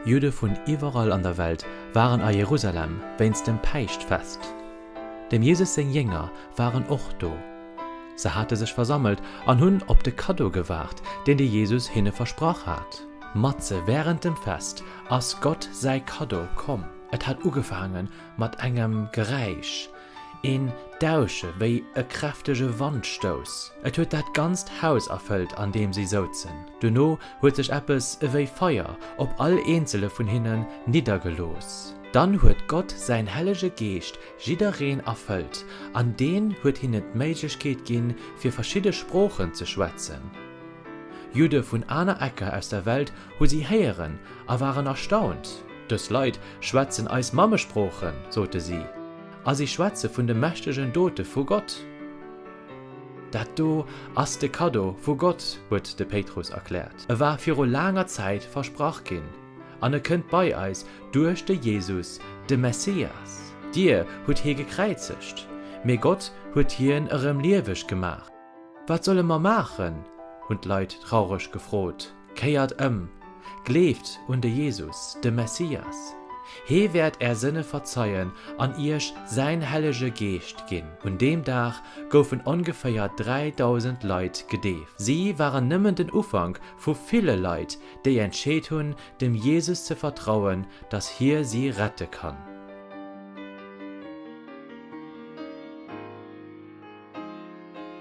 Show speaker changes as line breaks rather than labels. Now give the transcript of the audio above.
Judde vun iwwerall an der Welt waren a Jerusalem wéinst dem Päischtfest. Dem Jesus seng Jénger waren och do. Se hate sech versammelt an hunn op de Kaddo gewaart, deen de Jesus hinne versprach hat. Matzen wärend dem Fest ass Gott säi Kaddo komm. Et hat ugefaange mat engem Geräisch. Een Dausche wéi e kräftege Wandstouss. Et huet dat ganzt Haus erfëllt, an deem si souzen. Duerno huet sech eppes ewéi Feier op all eenzele vun hinnen niddergelooss. Dann huet Gott säin hellege Geescht jiddereen erfëllt, an deen huet hinnen d'Méiglechkeet ginn, fir verschidde Sproochen ze schwätzen. Judde vun aner Ecker aus der Welt hu si héieren a waren erstaunt, Dës Leit schwätzen eis Mammesproochen, sote si, a si schwätze vun de mächtegen Dote vu Gott. Dat do ass de Kaddo vu Gott, huet de Péitrus erkläert. E war viru laanger Zäit versprach ginn, an e kënnt bei eis duerch de Jesus, de Messias. Dir hutt hie gekräizegt, mee Gott huet hien erëm lieweg gemaach. Wat solle mer maachen? hunn d'Leit traureg gefrot. Kéiert ëm! Gleeft un de Jesus, de Messias! Hee wäert är Sënne verzeien an iech säin hellege Geescht ginn. Un deem Dag goufen ongeféier 3.000 Leit gedeeft. Si waren nëmmen den Ufank vu ville Leit, déi entscheet hunn, dem Jesus ze vertrauen, dass hie si rette kann.